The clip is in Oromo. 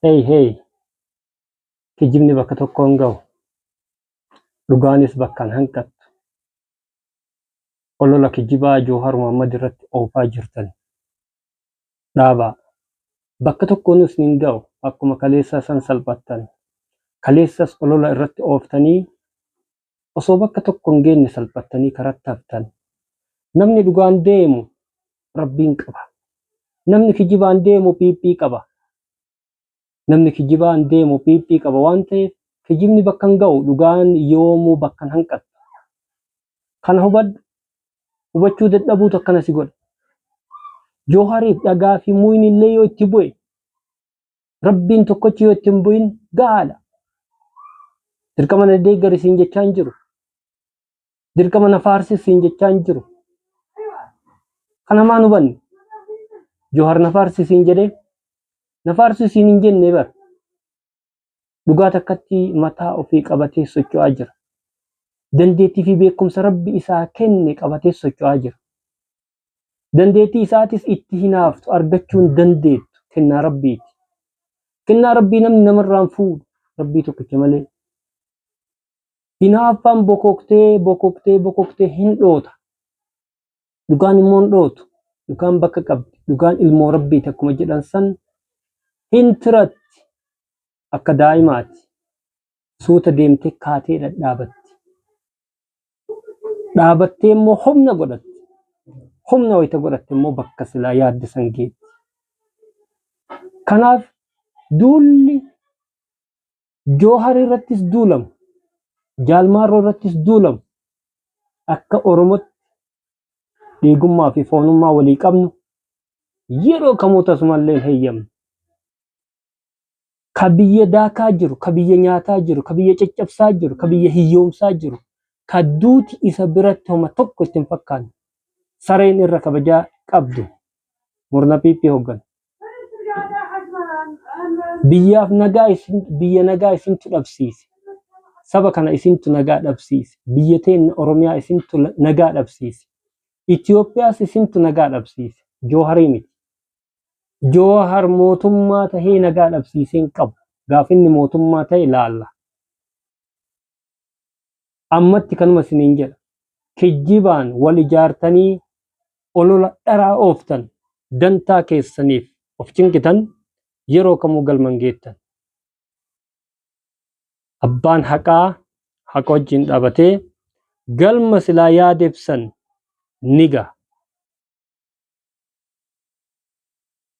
Hey hey! Kijibni bakka tokko hin gahu. Dhugaanis bakka hin hanqattu. Olola kijibaa Jawhar Mohammed irratti oofaa jirtan dhaabaa. Bakka tokkoonuu isin hin gahu. Akkuma kaleessaa san salphattan. Kaleessas olola irratti ooftanii osoo bakka tokko hin geenne salphattanii karatti haftan. Namni dhugaan deemu Rabbiin qaba. Namni kijibaan deemu PP qaba. Namni kijibaan deemu PP qaba waan ta'eef kijibni bakka hin ga'u dhugaan yoomuu bakka hin hanqattu. Kana hubadhu. Hubachuu dadhabuutu akkana si godha. Joohariif dhagaa fi muyni illee yoo itti bu'e Rabbiin tokkochi yoo itti hin bu'in gahaadha. Dirqama na deeggari siin jechaa hin jiru. Dirqama na faarsi siin jechaa hin jiru. Kana maan hubanne? Jawhar na faarsi siin jedhee na faarsu siin hin jenne bar. Dhugaa takkatti mataa ofii qabatee socho'aa jira. Dandeettii fi beekumsa Rabbi isaa kenne qabatee socho'aa jira. Dandeettii isaatis itti hinaaftu argachuu hin dandeettu kennaa rabbiiti. Kennaa rabbii namni namarraan fuudhu rabbii tokkicha malee. Hinaaffaan bokoktee bokoktee bokoktee hin dhoota. Dhugaan immoo hin dhootu. Dhugaan bakka qabdi. Dhugaan ilmoo rabbiiti akkuma jedhan san hin tiratti akka daa'imaati. Suuta deemtee kaatee dhadhaabatti. Dhaabattee immoo humna godhatti. Humna wayita godhatte immoo bakka silaa yaadde san geetti. Kanaaf duulli Joohar irrattis duulamu, Jaalmaarroo irrattis duulamu akka Oromootti dhiigummaa fi foonummaa walii qabnu yeroo kamuu tasumallee hin heyyamnu. ka biyya daakaa jiru, ka biyya nyaataa jiru, ka biyya caccabsaa jiru, ka biyya hiyyoomsaa jiru, ka duuti isa biratti homa tokko itti hin fakkaanne, sareen irra kabajaa qabdu, murna PP hoogganu. Biyyaaf nagaa isin, biyya nagaa isintu dhabsiise. Saba kana isintu nagaa dhabsiise. Biyya teenna Oromiyaa isintu la- nagaa dhabsiise. Itoophiyaas isintu nagaa dhabsiise. Jooharii miti. Joohar mootummaa tahee nagaa dhabsiisee hin qabu. Gaaf inni mootummaa tahe laalla. Ammatti kanuma isiniin jedha. Kijjibaan wal ijaartanii olola dharaa ooftan dantaa keessaniif of cinqitan yeroo kamuu galman geettan. abbaan haqaa haqa wajjin dhaabatee galma silaa yaadeef san ni gaha.